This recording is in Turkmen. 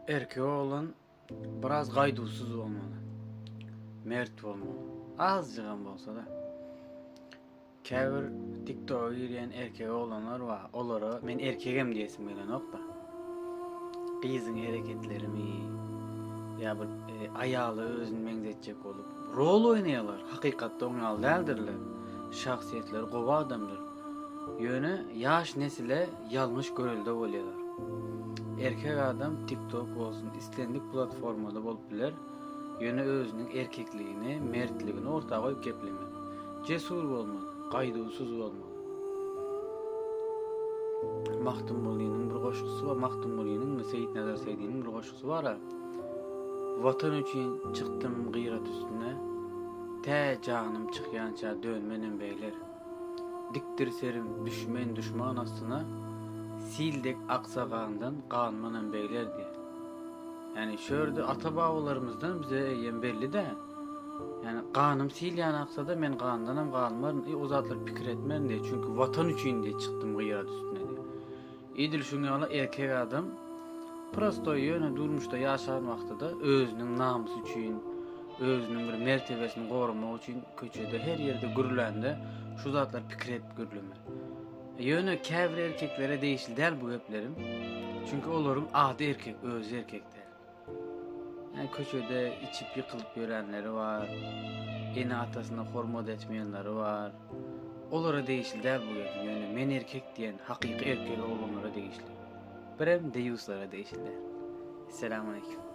Erkek oglan biraz gaýduwsyz bolmaly. Mert bolmaly. Azjygam bolsa-da. Käbir TikToka girýän erkek oglanlar bar. Olara men erkegem diýesim gelenokda. Gyzyň hereketlerimi ýa bir e, aýala özüni meňzetjek bolup rol oýnaýarlar. Hakykatda oň ýaly däldirler. Şahsyýetleri gowy adamdyr. Ýöne ýaş nesile Ýalňyş görelde bolýar. Erkek adam TikTok bolsun islendik platformada bolup biler, ýöne özüniň erkekligini, mertligini orta goýup geplemek. Jesur bolmaly, gaýduwsyz bolmaly. Magtymgulynyň bir goşgusy bar, Magtymgulynyňmy, Seýitnazar Seýdiniň bir goşgusy bar-a, Watan üçin çykdym gyrat üstüne, tä janym çykýança dönmenem beýler. Dikdir serim düşmen duşman astyna sil dek aksa gandan galmanam beglerdi. Ýani şu ýerde ata babalarymyzdan bize eýýäm bellidä. Ýani ganym sil ýany aksada men gandanam galmaryn i o zatlar pikir etmerin diýdi. Çünki watan üçin diýdi çykdym gyýat üstüne diýdi. Edil şuň ýaly erkek adam prostoý ýöne durmuşda ýaşan wagtyda özüniň namysy üçin, özüniň bir mertebesini goramak üçin köçede her ýerde gürlände şu zatlar pikir edip gürlemer. Ýöne käbir erkeklere degişli däl bu geplerim. Çünki olaryň ady erkek, özi erkek däl. Köçede içip ýykylyp ýörenleri bar, ene-atasyna hormat etmeýänleri bar. Olara degişli däl bu ýerde, ýöne men erkek diýen hakyky erkek oglanlara degişli. Birem deýuslara degişli däl. Esselamu aleýkum.